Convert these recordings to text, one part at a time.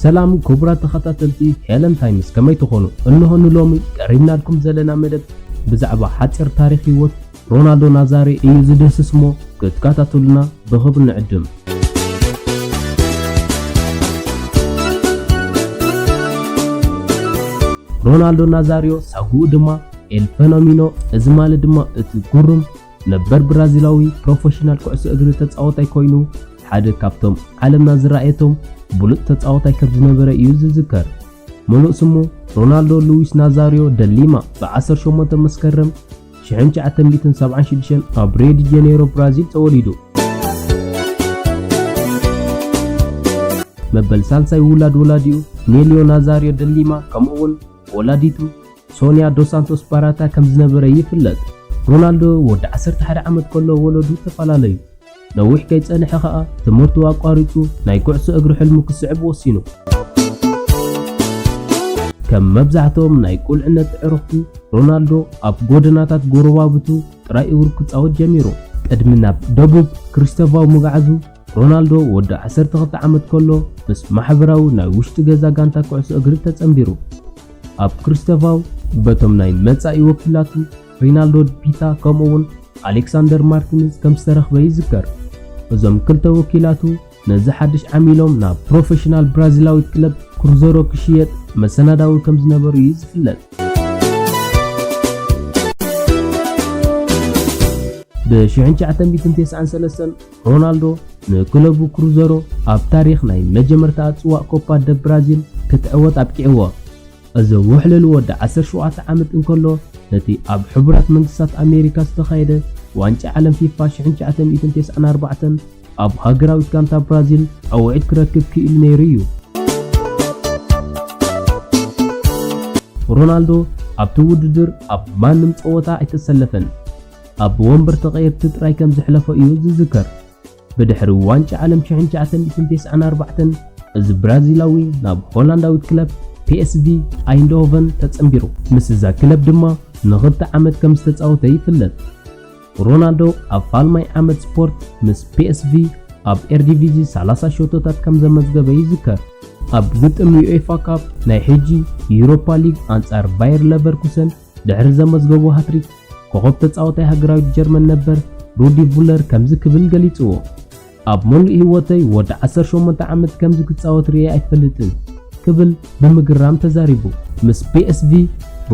ሰላም ክቡራት ተኸታተልቲ ሄለን ታይምስ ከመይ ትኾኑ? እንሆ ንሎሚ ቀሪብናልኩም ዘለና መደብ ብዛዕባ ሓጺር ታሪኽ ህይወት ሮናልዶ ናዛሬ እዩ ዝድህስስ እሞ ክትከታተሉና ብኽብሪ ንዕድም። ሮናልዶ ናዛሪዮ ሳጉኡ ድማ ኤል ፈኖሚኖ እዚ ማለት ድማ እቲ ጉሩም ነበር ብራዚላዊ ፕሮፈሽናል ኩዕሶ እግሪ ተጻወታይ ኮይኑ ሓደ ካብቶም ዓለምና ዝረኣየቶም ብሉጽ ተጻወታይ ከም ዝነበረ እዩ ዝዝከር። ምሉእ ስሙ ሮናልዶ ሉዊስ ናዛርዮ ደ ሊማ ብ ዓሰርተ ሸሞንተ መስከረም ሽሕን ትሽዓተ ሚእትን ሰብዓን ሽዱሽተን ኣብ ሪዮ ዲ ጀኔሮ ብራዚል ተወሊዱ። መበል ሳልሳይ ውላድ ወላዲኡ ኔልዮ ናዛርዮ ደ ሊማ ከምኡ'ውን ወላዲቱ ሶንያ ዶስ ሳንቶስ ባራታ ከም ዝነበረ ይፍለጥ። ሮናልዶ ወዲ ዓሰርተ ሓደ ዓመት ከሎ ወለዱ ተፈላለዩ። ነዊሕ ከይጸንሐ ከኣ ትምህርቱ ኣቋሪጹ ናይ ኩዕሶ እግሪ ሕልሙ ክስዕብ ወሲኑ። ከም መብዛሕትኦም ናይ ቁልዕነት ኣዕሩኽቱ ሮናልዶ ኣብ ጎደናታት ጎረባብቱ ጥራይ እግሩ ክጻወት ጀሚሩ። ቅድሚ ናብ ደቡብ ክሪስተቫው ምግዓዙ ሮናልዶ ወዲ ዓሰርተ ክልተ ዓመት ከሎ ምስ ማሕበራዊ ናይ ውሽጢ ገዛ ጋንታ ኩዕሶ እግሪ ተጸንቢሩ። ኣብ ክሪስተቫው በቶም ናይ መጻኢ ወኪላቱ ሪናልዶ ፒታ ከምኡ'ውን ኣሌክሳንደር ማርቲንዝ ከም ዝተረኽበ ይዝከር። እዞም ክልተ ወኪላቱ ነዚ ሓድሽ ዓሚሎም ናብ ፕሮፌሽናል ብራዚላዊት ክለብ ክሩዘሮ ክሽየጥ መሰናዳዊ ከም ዝነበሩ እዩ ዝፍለጥ። ብ1993 ሮናልዶ ንክለቡ ክሩዘሮ ኣብ ታሪኽ ናይ መጀመርታኣ ጽዋእ ኮፓ ደ ብራዚል ክትዕወት ኣብቂዕዎ። እዚ ውሕልል ወዲ ዓሰርተ ሸውዓተ ዓመት እንከሎ ነቲ ኣብ ሕቡራት መንግስታት ኣሜሪካ ዝተኻየደ ዋንጫ ዓለም ፊፋ ሽሕን ትሽዓተ ሚእትን ተስዓን ኣርባዕተን ኣብ ሃገራዊት ጋንታ ብራዚል ጸውዒት ክረክብ ክኢሉ ነይሩ እዩ። ሮናልዶ ኣብቲ ውድድር ኣብ ማንም ጸወታ ኣይተሰለፈን። ኣብ ወንበር ተቐየርቲ ጥራይ ከም ዘሕለፎ እዩ ዝዝከር። ብድሕሪ ዋንጫ ዓለም ሽሕን ትሽዓተ ሚእትን ተስዓን ኣርባዕተን እዚ ብራዚላዊ ናብ ሆላንዳዊት ክለብ ፒኤስቪ ኣይንድሆቨን ተጸንቢሩ። ምስዛ ክለብ ድማ ንኽልተ ዓመት ከም ዝተጻወተ ይፍለጥ። ሮናልዶ ኣብ ፋልማይ ዓመት ስፖርት ምስ ፒኤስቪ ኣብ ኤርዲቪዚ ሰላሳ ሸቶታት ከም ዘመዝገበ ይዝከር። ኣብ ግጥም ዩኤፋ ካፕ፣ ናይ ሕጂ ዩሮፓ ሊግ፣ ኣንጻር ባየር ለቨርኩሰን ድሕሪ ዘመዝገቦ ሃትሪክ፣ ኮኾብ ተጻወታይ ሃገራዊት ጀርመን ነበር ሩዲ ቭለር ከምዚ ክብል ገሊጽዎ። ኣብ መሉእ ህይወተይ ወዲ ዓሰርተ ሸሞንተ ዓመት ከምዚ ክጻወት ርእየ ኣይፈልጥን ክብል ብምግራም ተዛሪቡ። ምስ ፒኤስቪ፣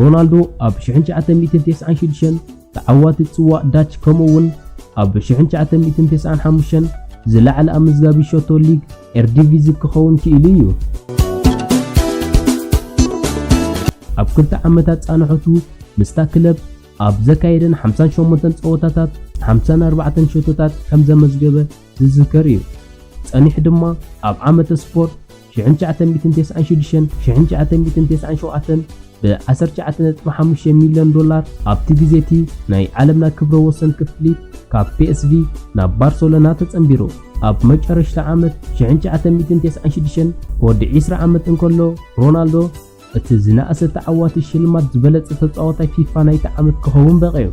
ሮናልዶ ኣብ ሽሕን ትሽዓተ ሚእትን ተስዓን ሽዱሽተን ተዓዋቲ ጽዋእ ዳች ከምኡ'ውን ኣብ ሽሕን ትሽዓተ ሚእትን ተስዓን ሓሙሽተን ዝለዓለ ኣመዝጋቢ ሸቶ ሊግ ኤርዲቪዚ ክኸውን ክኢሉ እዩ። ኣብ ክልተ ዓመታት ጻንሖቱ ምስታ ክለብ ኣብ ዘካየደን 58 ጸወታታት 54 ሸቶታት ከም ዘመዝገበ ዝዝከር እዩ። ጸኒሑ ድማ ኣብ ዓመተ ስፖርት 1996፣ 1997፣ ብዓሰርተ ትሽዓተ ነጥቢ ሓሙሽተ ሚልዮን ዶላር ኣብቲ ግዜ'ቲ ናይ ዓለምና ክብረ ወሰን ክፍሊት ካብ ፒኤስቪ ናብ ባርሰሎና ተጸንቢሩ። ኣብ መጨረሽታ ዓመት ሽሕን ትሽዓተ ሚእትን ተስዓን ሽዱሽተን ወዲ ዕስራ ዓመት እንከሎ ሮናልዶ እቲ ዝነኣሰ ተዓዋቲ ሽልማት ዝበለጸ ተጻዋታይ ፊፋ ናይቲ ዓመት ክኸውን በቒዑ።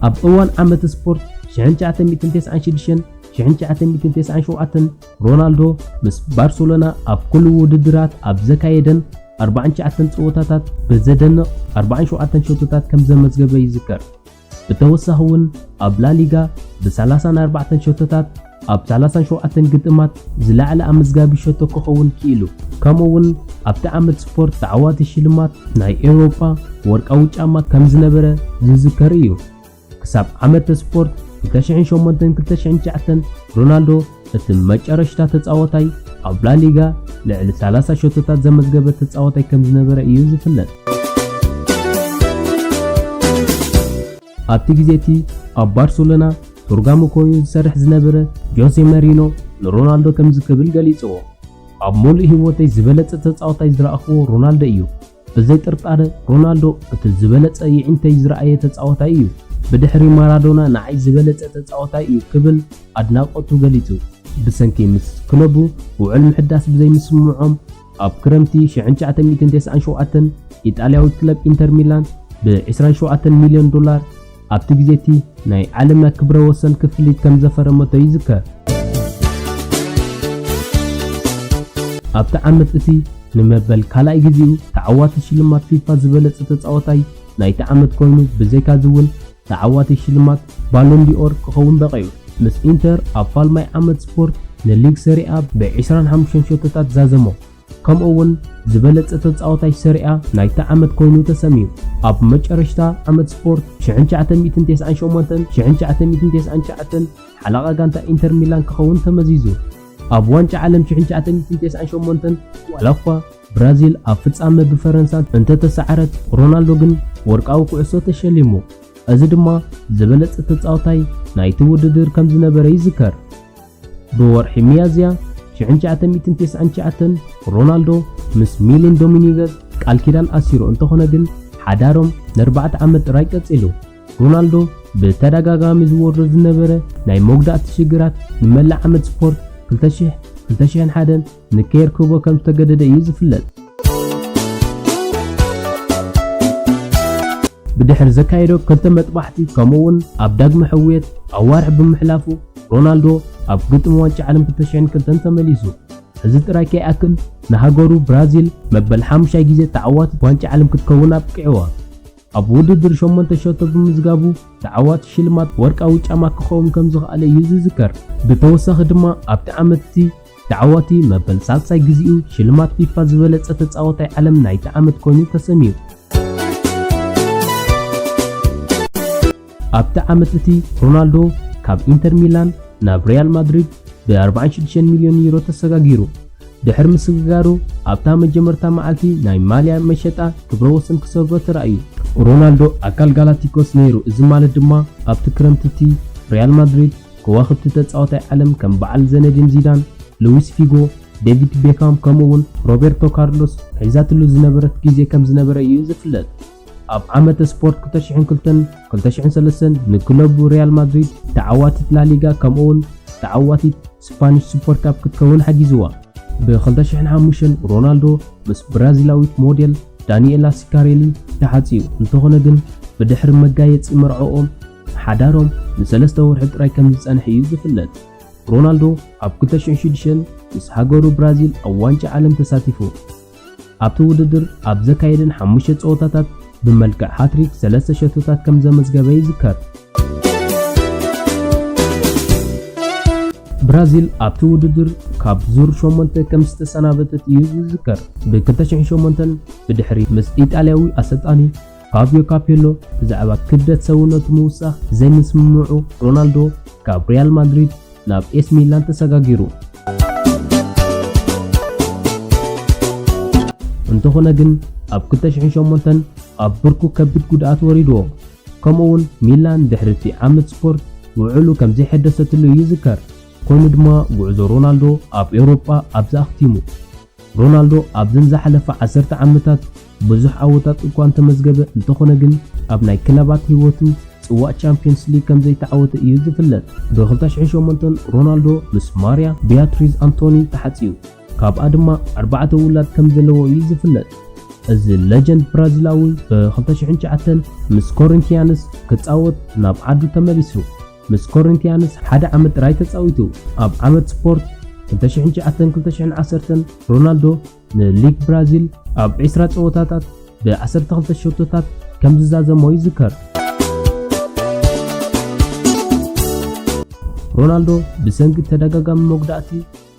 ኣብ እዋን ዓመተ ስፖርት ሽሕን ትሽዓተ ሚእትን ተስዓን ሽዱሽተን ሽሕን ትሽዓተ ሚእትን ተስዓን ሸውዓተን ሮናልዶ ምስ ባርሰሎና ኣብ ኩሉ ውድድራት ኣብ ዘካየደን ኣርባዓን ትሽዓተን ጸወታታት ብዘደንቕ ኣርባዓን ሸውዓተን ሸቶታት ከም ዘመዝገበ ይዝከር። ብተወሳኺ እውን ኣብ ላሊጋ ብሰላሳን ኣርባዕተን ሸቶታት ኣብ ሰላሳን ሸውዓተን ግጥማት ዝለዓለ ኣመዝጋቢ ሸቶ ክኸውን ክኢሉ። ከምኡ እውን ኣብቲ ዓመት ስፖርት ተዓዋቲ ሽልማት ናይ ኤውሮጳ ወርቃዊ ጫማ ከም ዝነበረ ዝዝከር እዩ። ክሳብ ዓመተ ስፖርት ክልተ ሽሕን ሸሞንተን ክልተ ሽሕን ትሽዓተን ሮናልዶ እቲ መጨረሽታ ተጻዋታይ ኣብ ላሊጋ ልዕሊ ሰላሳ ሸቶታት ዘመዝገበ ተጻዋታይ ከም ዝነበረ እዩ ዝፍለጥ። ኣብቲ ግዜ እቲ ኣብ ባርሰሎና ቱርጋሙ ኮይኑ ዝሰርሕ ዝነበረ ጆሴ መሪኖ ንሮናልዶ ከምዚ ክብል ገሊጽዎ፣ ኣብ ምሉእ ህይወተይ ዝበለጸ ተጻዋታይ ዝረኣኽዎ ሮናልዶ እዩ። ብዘይ ጥርጣረ ሮናልዶ እቲ ዝበለጸ የዒንተይ ዝረኣየ ተጻዋታይ እዩ፣ ብድሕሪ ማራዶና ንዓይ ዝበለጸ ተጻዋታይ እዩ ክብል ኣድናቖቱ ገሊጹ። ብሰንኪ ምስ ክለቡ ውዑል ምሕዳስ ብዘይምስምምዖም ኣብ ክረምቲ ሽሕን ትሽዓተ ሚእትን ተስዓን ሸውዓተን ኢጣልያዊት ክለብ ኢንተር ሚላን ብ ዕስራን ሸውዓተን ሚልዮን ዶላር ኣብቲ ግዜ'ቲ ናይ ዓለምና ክብረ ወሰን ክፍሊት ከም ዘፈረመቶ ይዝከር። ኣብቲ ዓመት እቲ ንመበል ካልኣይ ግዜኡ ተዓዋቲ ሽልማት ፊፋ ዝበለጸ ተጻዋታይ ናይቲ ዓመት ኮይኑ ብዘይካ'ዚ እውን ተዓዋቲ ሽልማት ባሎን ዲ'ኦር ክኸውን በቒዑ። ምስ ኢንተር ኣብ ፋልማይ ዓመት ስፖርት ንሊግ ሰሪ'ኣ ብ ዕስራን ሓሙሽተን ሸቶታት ዛዘሞ። ከምኡ ውን ዝበለጸ ተጻዋታይ ሰሪኣ ናይታ ዓመት ኮይኑ ተሰምዩ። ኣብ መጨረሽታ ዓመት ስፖርት ሽሕን ትሽዓተ ሚእትን ተስዓን ሸሞንተን ሽሕን ትሽዓተ ሚእትን ተስዓን ትሽዓተን ሓላቓ ጋንታ ኢንተር ሚላን ክኸውን ተመዚዙ። ኣብ ዋንጫ ዓለም ሽሕን ትሽዓተ ሚእትን ተስዓን ሸሞንተን ዋላኳ ብራዚል ኣብ ፍጻመ ብፈረንሳ እንተተሰዓረት ሮናልዶ ግን ወርቃዊ ኩዕሶ ተሸሊሙ። እዚ ድማ ዝበለጸ ተጻዋታይ ናይቲ ውድድር ከምዝነበረ ይዝከር። ብወርሒ ሚያዝያ ሽሕን ትሽዓተ ሚእትን ተስዓን ትሽዓተን ሮናልዶ ምስ ሚሊን ዶሚኒገዝ ቃል ኪዳን ኣሲሩ እንተኾነ ግን ሓዳሮም ንኣርባዕተ ዓመት ጥራይ ቀጺሉ። ሮናልዶ ብተደጋጋሚ ዝወርዶ ዝነበረ ናይ መጉዳእቲ ሽግራት ንመላእ ዓመት ስፖርት ክልተ ሽሕ፣ ክልተ ሽሕን ሓደን፣ ንኬር ክህቦ ከም ዝተገደደ እዩ ዝፍለጥ። ብድሕሪ ዘካየዶ ክልተ መጥባሕቲ ከምኡ'ውን ኣብ ዳግመ ሕውየት ኣዋርሕ ብምሕላፉ ሮናልዶ ኣብ ግጥም ዋንጫ ዓለም 2002 ተመሊሱ። እዚ ጥራይ ከይኣክል ንሃገሩ ብራዚል መበል ሓሙሻይ ግዜ ተዓዋቲት ዋንጫ ዓለም ክትከውን ኣብቂዕዋ። ኣብ ውድድር ሸሞንተ ሸቶ ብምዝጋቡ ተዓዋቲ ሽልማት ወርቃዊ ጫማ ክኸውን ከም ዝኸኣለ እዩ ዝዝከር። ብተወሳኺ ድማ ኣብቲ ዓመት'ቲ ተዓዋቲ መበል ሳልሳይ ግዜኡ ሽልማት ፊፋ ዝበለጸ ተጻዋታይ ዓለም ናይቲ ዓመት ኮይኑ ተሰምዩ። ኣብቲ ዓመት እቲ ሮናልዶ ካብ ኢንተር ሚላን ናብ ሪያል ማድሪድ ብ46 ሚልዮን ዩሮ ተሰጋጊሩ። ድሕሪ ምስግጋሩ ኣብታ መጀመርታ መዓልቲ ናይ ማልያ መሸጣ ክብረ ወሰን ክሰብሮ ተራእዩ። ሮናልዶ ኣካል ጋላክቲኮስ ነይሩ፣ እዚ ማለት ድማ ኣብቲ ክረምቲ እቲ ሪያል ማድሪድ ከዋኽብቲ ተጻዋታይ ዓለም ከም በዓል ዘነዲን ዚዳን፣ ሉዊስ ፊጎ፣ ዴቪድ ቤካም ከምኡ'ውን ሮቤርቶ ካርሎስ ሒዛትሉ ዝነበረት ግዜ ከም ዝነበረ እዩ ዝፍለጥ። ኣብ ዓመተ ስፖርት ክልተ ሽሕን ክልተን ክልተ ሽሕን ሰለስተን ንክለቡ ሪያል ማድሪድ ተዓዋቲት ላሊጋ ከምኡ'ውን ተዓዋቲት ስፓኒሽ ሱፐር ካፕ ክትከውን ሓጊዝዋ። ብ ክልተ ሽሕን ሓሙሽተን ሮናልዶ ምስ ብራዚላዊት ሞዴል ዳኒኤላ ሲካሬሊ ተሓጽዩ፣ እንተኾነ ግን ብድሕሪ መጋየጺ መርዕኦም፣ ሓዳሮም ንሰለስተ ወርሒ ጥራይ ከም ዝጸንሐ እዩ ዝፍለጥ። ሮናልዶ ኣብ ክልተ ሽሕን ሽዱሽተን ምስ ሃገሩ ብራዚል ኣብ ዋንጫ ዓለም ተሳቲፉ። ኣብቲ ውድድር ኣብ ዘካየደን ሓሙሽተ ጸወታታት ብመልክዕ ሃትሪክ ሰለስተ ሸቶታት ከም ዘመዝገበ ይዝከር። ብራዚል ኣብቲ ውድድር ካብ ዙር ሸሞንተ ከም ዝተሰናበተት እዩ ዝዝከር። ብ2008 ብድሕሪ ምስ ኢጣልያዊ ኣሰልጣኒ ፋብዮ ካፔሎ ብዛዕባ ክብደት ሰውነቱ ምውሳኽ ዘይምስምምዑ፣ ሮናልዶ ካብ ሪያል ማድሪድ ናብ ኤስ ሚላን ተሰጋጊሩ። እንተኾነ ግን ኣብ 2008 ኣብ ብርኩ ከቢድ ጉድኣት ወሪድዎ። ከምኡውን ሚላን ድሕሪ እቲ ዓመት ስፖርት ውዕሉ ከም ዘይሐደሰትሉ ይዝከር። ኮይኑ ድማ ጉዕዞ ሮናልዶ ኣብ ኤውሮጳ ኣብዛ ኣኽቲሙ። ሮናልዶ ኣብዘን ዝሓለፋ ዓሰርተ ዓመታት ብዙሕ ዓወታት እኳ እንተመዝገበ፣ እንተኾነ ግን ኣብ ናይ ክለባት ህይወቱ ጽዋእ ቻምፕዮንስ ሊግ ከምዘይተዓወተ እዩ ዝፍለጥ። ብ ክልተ ሽሕን ሸሞንተን ሮናልዶ ምስ ማርያ ቢያትሪዝ ኣንቶኒ ተሓጽዩ፣ ካብኣ ድማ ኣርባዕተ ውላድ ከምዘለዎ እዩ ዝፍለጥ። እዚ ለጀንድ ብራዚላዊ ብ ክልተ ሽሕን ትሽዓተን ምስ ኮሪንቲያንስ ክጻወት ናብ ዓዱ ተመሊሱ። ምስ ኮሪንቲያንስ ሓደ ዓመት ጥራይ ተጻዊቱ። ኣብ ዓመት ስፖርት ክልተ ሽሕን ትሽዓተን ክልተ ሽሕን ዓሰርተን፣ ሮናልዶ ንሊግ ብራዚል ኣብ ዕስራ ጸወታታት ብ ዓሰርተ ክልተ ሸቶታት ከም ዝዛዘሞ ይዝከር። ሮናልዶ ብሰንኪ ተደጋጋሚ መጉዳእቲ፣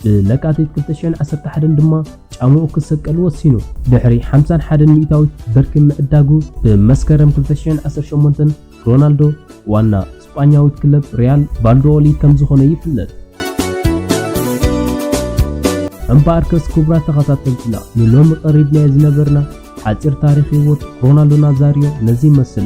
ብለካቲት ክልተ ሽሕን ዓሰርተ ሓደን ድማ ጫምኡ ክሰቀል ወሲኑ። ድሕሪ ሓምሳን ሓደን ሚእታዊት ብርኪ ምዕዳጉ፣ ብመስከረም ክልተ ሽሕን ዓሰርተ ሸሞንተን ሮናልዶ ዋና ስጳኛዊት ክለብ ሪያል ቫልዶኦሊድ ከም ዝኾነ ይፍለጥ። እምበኣርከስ ክቡራት ተኸታተልትና ንሎሚ ቀሪብናዮ ዝነበርና ሓጺር ታሪኽ ህይወት ሮናልዶ ናዛሪዮ ነዚ ይመስል።